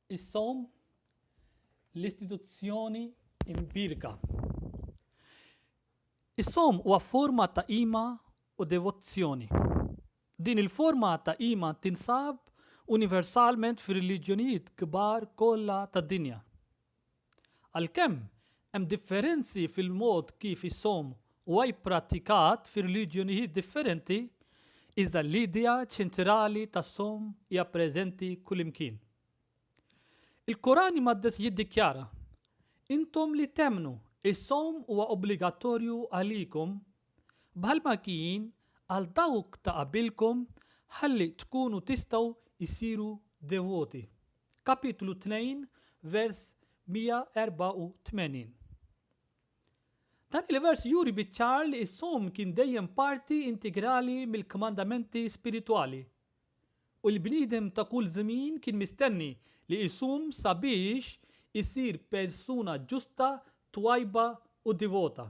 Is-sawm l-istituzzjoni imbierka. Is-sawm huwa forma ta' qima u devozzjoni. Din il-forma ta' qima tinsab universalment fir-reliġjonijiet kbar kollha tad-dinja. Għalkemm hemm differenzi fil-mod kif is-sawm huwa pprattikat fir-reliġjonijiet differenti, iżda l-idea ċentrali tas-sawm hija preżenti kullimkien. Il-Koran Imqaddes jiddikjara, Intom li temmnu, is-sawm huwa obbligatorju għalikom bħalma kien għal dawk ta' qabilkom ħalli tkunu tistgħu issiru devoti. Kapitlu 2 vers 184 Dan il-vers juri biċ-ċar li s-sawm kien dejjem parti integrali mill-kmandamenti spiritwali, u l-bniedem ta' kull żmien kien mistenni li jsum sabiex isir persuna ġusta, twajba u divota.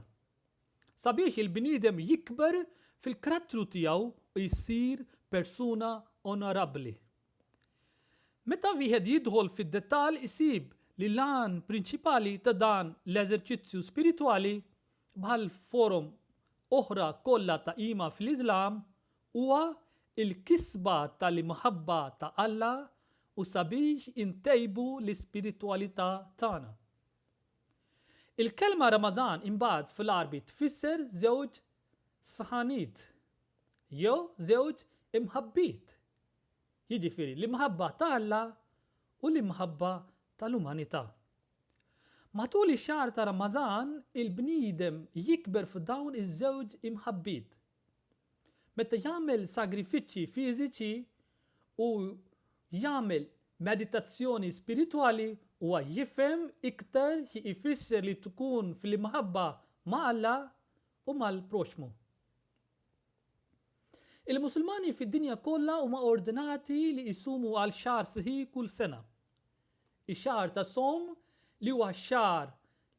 Sabiex il-bniedem jikber fil-karattru tiegħu u jsir persuna onorabbli. Meta wieħed jidħol fid-dettall isib li l-għan prinċipali ta' dan l-eżerċizzju spiritwali, bħall-forom oħra kollha ta' qima fl-Iżlam, huwa l-kisba tal-imħabba ta' Alla u sabiex intejbu l-ispiritwalità tagħna. Il-kelma Ramadan imbagħad fl-Għarbi tfisser żewġ sħaniet, jew żewġ imħabbiet, jiġifieri l-imħabba ta' Alla u l-imħabba tal-umanità. Matul ix-xahar ta' Ramadan il-bniedem jikber f'dawn iż-żewġ imħabbiet. Meta jagħmel sagrifiċċji fiżiċi u jagħmel meditazzjoni spiritwali huwa jifhem iktar xi jfisser li tkun fl-imħabba ma' Alla u mal-proxxmu. Il-Musulmani fid-dinja kollha huma ordnati li jsumu għal xahar sħiħ kull sena. Ix-xahar tas-sawm, li huwa x-xahar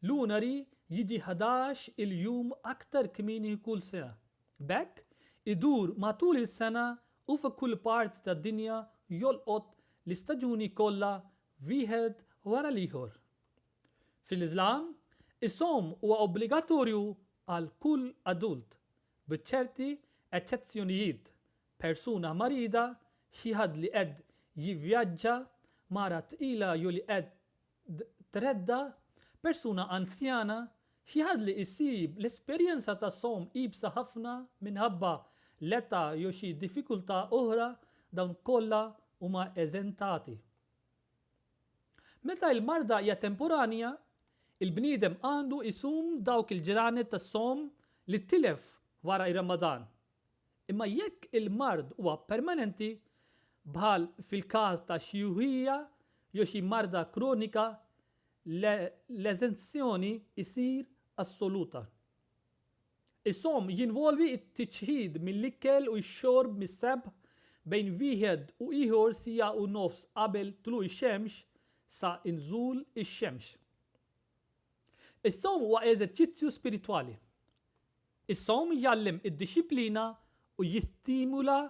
lunari, jiġi ħadax il-jum aktar kmieni kull sena. B'hekk, idur matul is-sena u fi kull parti tad-dinja jolqot l-istaġuni kollha wieħed wara l-ieħor. Fil-Iżlam, is-sawm huwa obbligatorju għal kull adult, bi ċerti eċċezzjonijiet, persuna marida, xi ħadd li qed jivvjaġġa, mara tqila jew li qed tredda, persuna anzjana, xi ħadd li jsib l-esperjenza tas-sawm iebsa ħafna minħabba l-età jew xi diffikultà oħra, dawn kollha huma eżentati. Meta l-marda hija temporanja, il-bniedem għandu jsum dawk il-ġranet tas-sawm li tilef wara r-Ramadan. Imma jekk il-mard huwa permanenti, bħal fil-każ ta' xjuħija jew xi marda kronika, l-eżenzjoni ssir assoluta. Is-sawm jinvolvi t-tiċħid mill-ikel u x-xorb mis-subh bejn wieħed u ieħor siegħa u nofs qabel tlugħ ix-xemx sa nżul ix-xemx. Is-sawm huwa eżerċizzju spiritwali. Is-sawm jgħallem id-dixxiplina u jistimula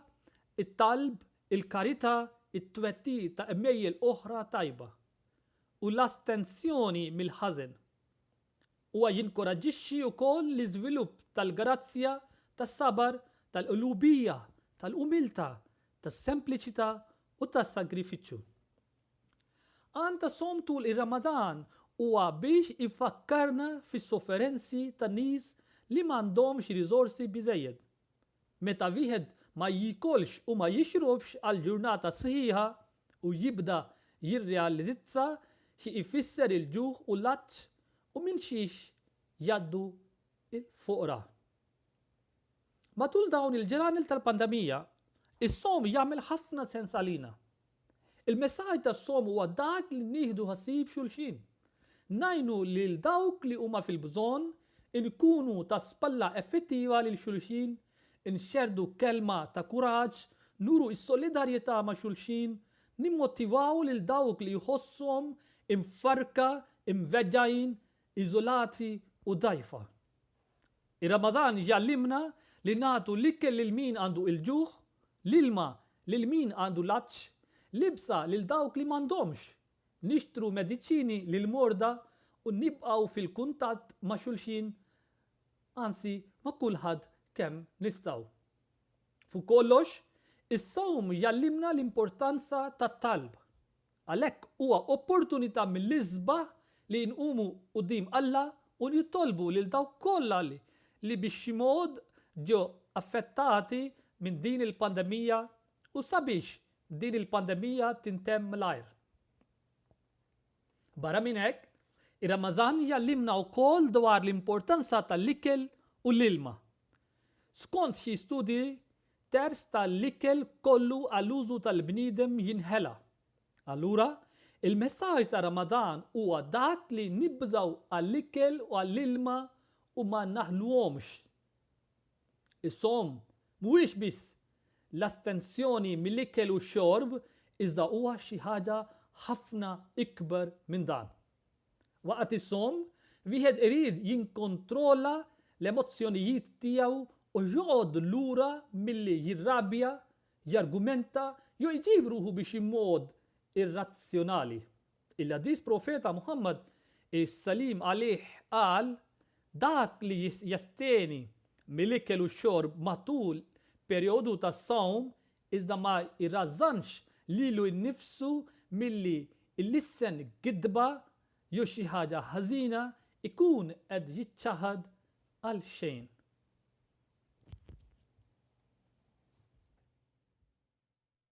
t-talb, il-karità, it-twettiq ta' għemejjel oħra tajba, u l-astensjoni mill-ħażen. Huwa jinkoraġġixxi wkoll l-iżvilupp tal-grazzja, tas-sabar, tal-qlubija, tal-umiltà, tas-sempliċità u tas-sagrifiċċju. Għan ta' sawm tul ir-Ramadan huwa biex ifakkarna fis-sofferenzi ta' nies li m'għandhomx riżorsi biżżejjed, Meta wieħed ma jiekolx u ma jixrobx għal ġurnata sħiħa u jibda jirrealizza xi jfisser il-ġuħ u l-għatx u minn xiex jgħaddu l-foqra. Matul dawn il-ġranet tal-pandemija, is-sawm jagħmel ħafna sens għalina. Il-messaġġ tas-sawm huwa dak li nieħdu ħsieb xulxin. Ngħinu lil dawk li huma fil-bżonn, inkunu ta' spalla effettiva lil xulxin, inxerrdu kelma ta' kuraġġ, nuru s-solidarjetà ma' xulxin, nimmotivaw lil dawk li jħossuhom imfarrka, imweġġgħin, iżolati u dgħajfa. Ir-Ramadan jgħallimna li nagħtu l-ikel lil min għandu il-ġuħ, l-ilma lil min għandu l-għatx, libsa lil dawk li m'għandhomx, nixtru mediċini lill-morda u nibqgħu fil-kuntatt ma' xulxin, anzi ma' kulħadd kemm nistgħu. Fuq kollox, is-sawm jgħallimna l-importanza tat-talb. Għalhekk huwa opportunità mill-isbaħ li nqumu quddiem Alla u nitolbu lil dawk kollha li li bi xi mod ġew affettati minn din il-pandemija u sabiex din il-pandemija tintemm mlajr. Barra minn hekk, ir-Ramażan jgħallimna wkoll dwar l-importanza tal-ikel u l-ilma. Skont xi studji, Terz ta' l-ikel kollu għal użu tal-bniedem jinħela. Allura, il-messaġġ ta' Ramadan huwa dak li nibżgħu għall-ikel u għall-ilma u ma naħluhomx. Is-sawm mhuwiex biss l-astenzjoni mill-ikel u x-xorb iżda huwa xi ħaġa ħafna ikbar minn dan. Waqt is-sawm, wieħed irid jinkontrolla l-emozzjonijiet tiegħu u joqgħod lura milli jirrabja, jargumenta jew iġib ruħu bi xi mod irrazzjonali. Il-Ħadith Profeta Muħammad, is-salim għalih, qal, Dak li jasteni mill-ikel u x-xorb matul perjodu tas-sawm iżda ma jrażżanx lilu nnifsu milli ilissen gidba jew xi ħaġa ħażina, ikun qed jiċċaħad għal xejn.